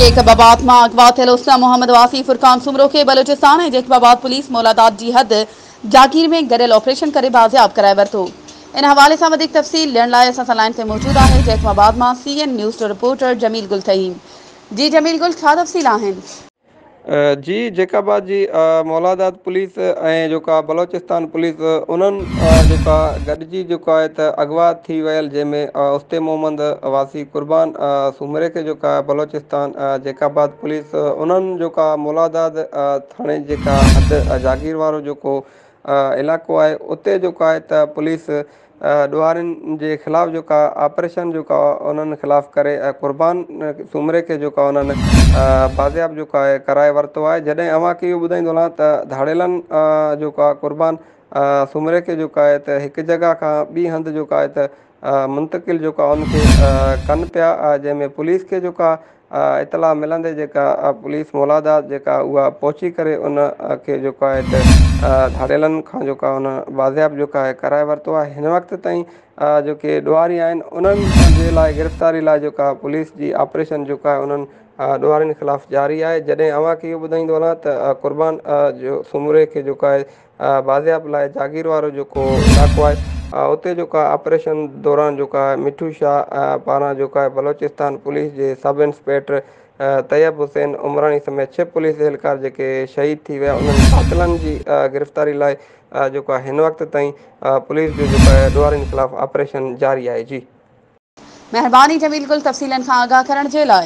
Jacobabad مان اغوا ٿيل حسنه محمد واسي فرقان سومرو کي بلوچستان ۽ جيڪب آباد پوليس مولاداد جي حد جاگير ۾ گڏيل آپريشن ڪري بازياب ڪرائي ورتو ان حوالي سان وڌيڪ تفصيل ڏيڻ لاء اسان سان لائين تي موجود آهي جيڪب آباد مان سي اين نيوز جو رپورٽر جميل گل فهيم جي جميل گل ڇا تفصيل آهن. جي جيڪب آباد جي مولاداد پوليس ۽ جيڪا بلوچستان پوليس انهن جيڪا گڏجي جيڪا آهي ته اغوا ٿي ويل جنهن ۾ استي محمد واسي قربان سومري کي جيڪا بلوچستان جيڪب آباد پوليس انهن جيڪا مولاداد ٿاڻي جيڪا حد جاگير وارو جيڪو علائقو آهي اتي جيڪو آهي ته پوليس ڏوهارين جي خلاف جيڪا آپريشن جيڪا انهن خلاف ڪري قربان سومري کي جيڪا انهن بازياب جيڪا آهي ڪرائي ورتو آهي جڏهن اوهان کي اهو ٻڌائيندو هلان ته ڌاڙيلن جيڪا آهي قربان سومري کي جيڪا آهي ته هڪ جڳهه کان ٻي هنڌ جيڪا آهي ته منتقل جيڪا ان کي ڪن پيا جنهن ۾ پوليس کي جيڪا اطلاع ملندي جيڪا پوليس مولاداء جيڪا اها پهچي ڪري ان کي جيڪو آهي ته ڌاڙيلن کان جيڪو آهي ان بازياب جيڪو آهي ڪرائي ورتو آهي هن وقت تائين جيڪي ڏوهاري آهن انهن جي لاء گرفتاري لاء جيڪو آهي پوليس جي آپريشن جيڪو آهي انهن ڏوهارين خلاف جاري آهي جڏهن اوهان کي اهو ٻڌائيندو هلان ته قربان جو سومري کي جيڪو آهي بازياب لاء جاگير وارو جيڪو علائقو آهي اتي جيڪو آهي آپريشن دوران جيڪو آهي مٺو شاهه پاران جيڪو آهي بلوچستان پوليس جي سب انسپيڪٽر طيب حسين عمراڻي سميت ڇهه پوليس اهلڪار جيڪي شهيد ٿي ويا انهن قاتلن جي گرفتاري لاء جيڪو آهي هن وقت تائين پوليس جو جيڪو آهي ڏوهارين خلاف آپريشن جاري آهي جي. مهرباني جميل گل تفصيلن کان آگاهه ڪرڻ جي لاء.